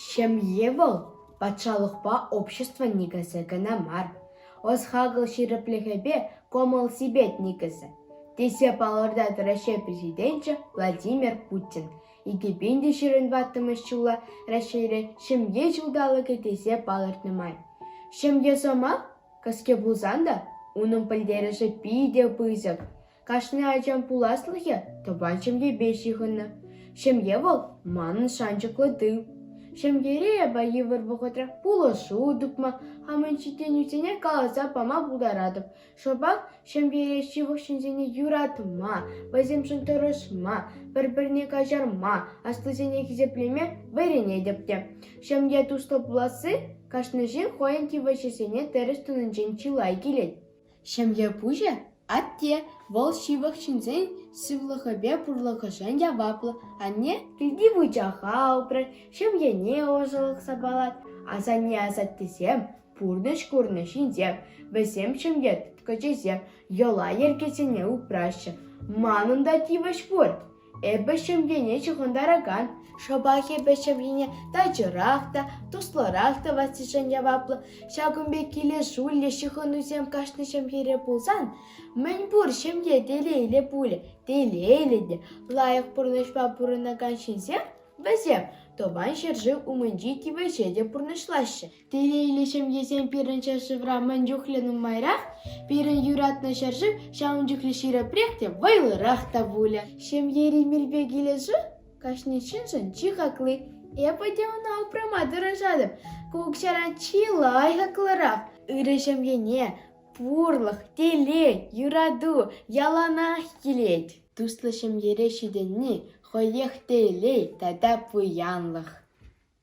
Ҫемье вӑл патшалӑхпа общество никӗсӗ кӑна мар, ӑс-хакӑл ҫирӗплӗхӗпе кӑмӑл-сипет никӗсӗ, тесе палӑртать Раҫҫей Президенчӗ Владимир Путин. Икӗ пин те ҫирӗн ваттӑмӗш ҫула Раҫҫейре Ҫемье ҫулталӑкӗ тесе палӑртнӑ май. Ҫемье сӑмах кӗске пулсан та унӑн пӗлтерӗшӗ питӗ пысӑк. Кашни ачан пуласлӑхӗ тӑван ҫемьепе ҫыхӑннӑ. Ҫемье вӑл манӑн шанчӑклӑ тыл. Ҫемьере эпӗ йывӑр вӑхӑтра пулӑшу тупма, хамӑн ҫитӗнӳсене каласа пама пултаратӑп. Шӑпах ҫемьере ҫывӑх ҫынсене юратма, вӗсемшӗн тӑрӑшма, пӗр-пӗрне каҫарма, аслисене хисеплеме вӗренетӗп те. Ҫемье туслӑ пуласси кашни ҫын хӑйӗн тивӗҫӗсене тӗрӗс тунинчен чылай килет. Ҫемье пуҫӗ – атте, вӑл ҫывӑх ҫынсен сывлӑхӗпе пурлӑхӗшӗн яваплӑ. Анне килти выльӑха упрать, ҫемьене ӑшӑлӑх сапалать. Асанне-асаттесем – пурнӑҫ курнӑ ҫынсем. Вӗсем ҫемье тыткӑчӗсем, йӑла-йӗркесене упраҫҫӗ. Манӑн та тивӗҫ пур. Эпӗ ҫемьене ҫыхӑнтаракан, шӑпах эпӗ ҫемьене тачӑрах та, туслӑрах тӑвассишӗн яваплӑ. Ҫакӑн пек килӗшӳллӗ ҫыхӑнусем кашни ҫемьере пулсан, мӗнпур ҫемье телейлӗ пулӗ. Телейлӗ те лайӑх пурнӑҫпа пурӑнакан ҫынсем вӗсем Тӑван ҫӗршыв умӗнчи тивӗҫе те пурнӑҫлаҫҫӗ. Телейлӗ ҫемьесем пирӗн ҫӗршывра мӗн чухлӗ нумайрах, пирӗн юратнӑ ҫӗршыв ҫавӑн чухлӗ ҫирӗпрех те вӑйлӑрах та пулӗ. Ҫемьери мелпе килӗшӳ кашни ҫыншӑн чи хакли. Эпӗ те ӑна упрама тӑрӑшатӑп. Ку укҫара чи лайӑхлӑрах. Ырӑ ҫемьене пурлӑх, телей, юрату яланах килет. Туслӑ ҫемьере ҫитӗнни хӑех телей тата пуянлӑх.